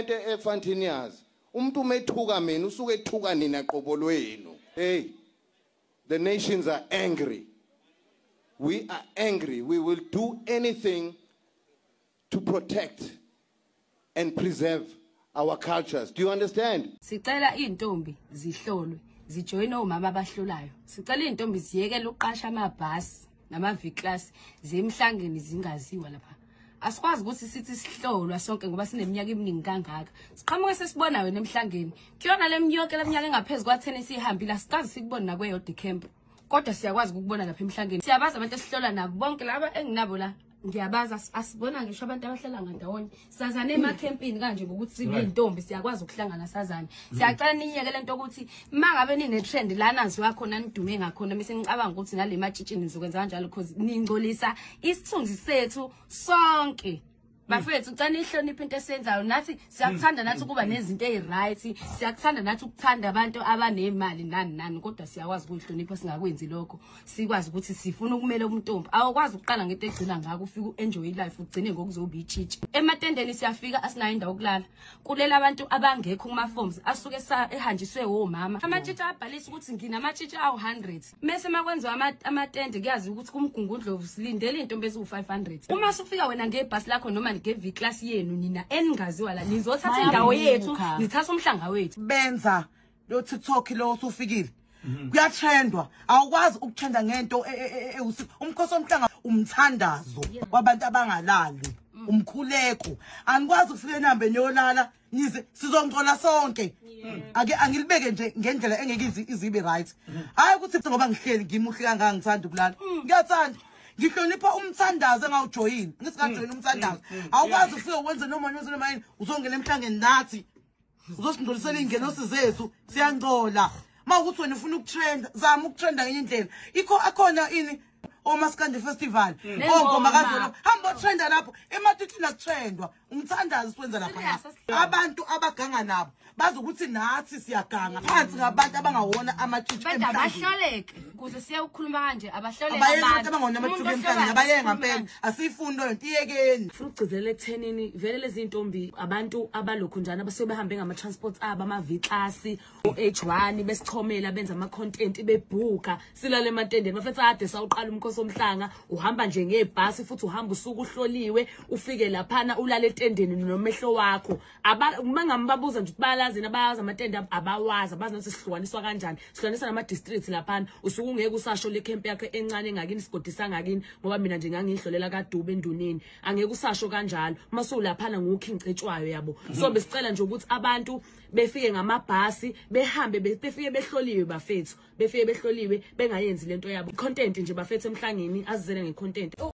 into efantini yazi umuntu umethuka mina usuke ethuka nina qobo lwenu hey the nations are angry we are angry we will do anything to protect and preserve our cultures do you understand sicela izintombi zihlolwe zijoyine omama abahlolayo sicela izintombi ziyekele uqasha amabhasi nama V class zemhlangeni zingaziwa lapha asikwazi ukuthi sithi sihlolwa sonke ngoba sineminyaka eminingi kangaka siqhamuke sesibona wena emhlangeni kuyona leminyaka leminyaka engaphezulu kwa 10 sihambile asikazi sikubona nakweyo decamp kodwa siyakwazi ukukubona lapha emhlangeni siyabazi abantu esihlola nabo bonke laba enginabo la ngiyabazi asibona ngisho abantu abahlala ngandawonye sazane emakhempini kanje ngokuthi sibiyintombi siyakwazi ukuhlangana sazane mm. siyacela niyeke le nto ukuthi uma ngabe nine-trend lana ziwa khona nidume ngakhona mise nicabanga ukuthi nale matshitshini nizokwenza kanjalo because ningcolisa isithunzi sethu sonke bafethu cela nihloniphe into esiyenzayo nathi siyakuthanda nathi ukuba nezinto eziryt siyakuthanda nathi ukuthanda abantu abanemali nani nani kodwa siyakwazi ukuyihlonipha singakwenzi lokho sikwazi ukuthi sifuna ukumela umntombi awukwazi ukuqala ngento egcina ngako ufike u-enjoy ilife ugcine ngokuzoba itshitshi ematendeni siyafika asinayo indawo yokulala kulela abantu abangekho kuma-forms asuke ehanjiswe womama amatshitshi abhalisa ukuthi nginamashitshi awu-hundred mese makwenziwa amatende kuyazi ukuthi kumgungundlovu silindele intombi eziwu-500 uma sufika wena ngebhasi lakho noma ngeviklasi yenu nina eningaziwa la nizothatha indawo yethu nithatha umhlanga wethu benza lo tiktok lo usufikile mhm. kuyatrendwa awukwazi ukutrenda ngento e, e, e, umkhosi omhlanga umthandazo kwabantu abangalali mm. umkhuleko anikwazi ukufika enambeni yolala ngize sizongcola sonke ake angilibeke nje ngendlela engeke izibe right hayi ukuthi ngoba ngihleli ngimuhle kangaka ngithanda ukulala mm. ngiyathanda ngihlonipha umthandazo engawujoyini ngithi ngajoyina mm. umthandazo mm. awukwazi ufike wenze noma noma noma yini uzongena emhlangeni nathi uzosingcolisela iy'ngenosi zethu siyangcola uma ukuthi wena ufuna ukutrenda zama ukutrenda ngenye indlela ikho akhona ini omasikande festival ongoma kazolo hamba otrenda lapho ematithini akutrendwa umthandazo siwenza lapha abantu abaganga nabo bazi ukuthi nathi siyaganga phansi ngabantu abangawona amatshitshi emhlabeni abahloleke kuze siye ukukhuluma kanje abahloleke abantu abayeke abangawona amatshitshi emhlabeni abayeke ngampela asiyifuni leyo nto iyekeni funa ukugcizelela ekuthenini vele lezi ntombi abantu abalokhu njani abasuke behambe ngama transports abo ama V class u-h1 besichomela benza ama-content bebhuka silale ematendeni bafethu ade sawuqala umkhosi omhlanga uhamba nje ngebhasi futhi uhamba usuku uhloliwe ufike laphana ulale etendeni nomehlo wakho uma ngambabuza nje ukuthi bayalazini abayazi amatende abawazi abazi nokuthi sihlukaniswa kanjani sihlukanisa nama-district laphana usuke ungeke usasho le camp yakho encane engakini isigodi sangakini ngoba mina nje ngangiyihlolela kadube enduneni angeke usasho kanjalo uma sowulaphana ngukhi ngicetshwayo yabo so besicela nje ukuthi abantu befike ngamabhasi behambe befike behloliwe bafethu befike behloliwe bengayenzi lento yabo content nje bafethu emhlangeni azizele ngecontent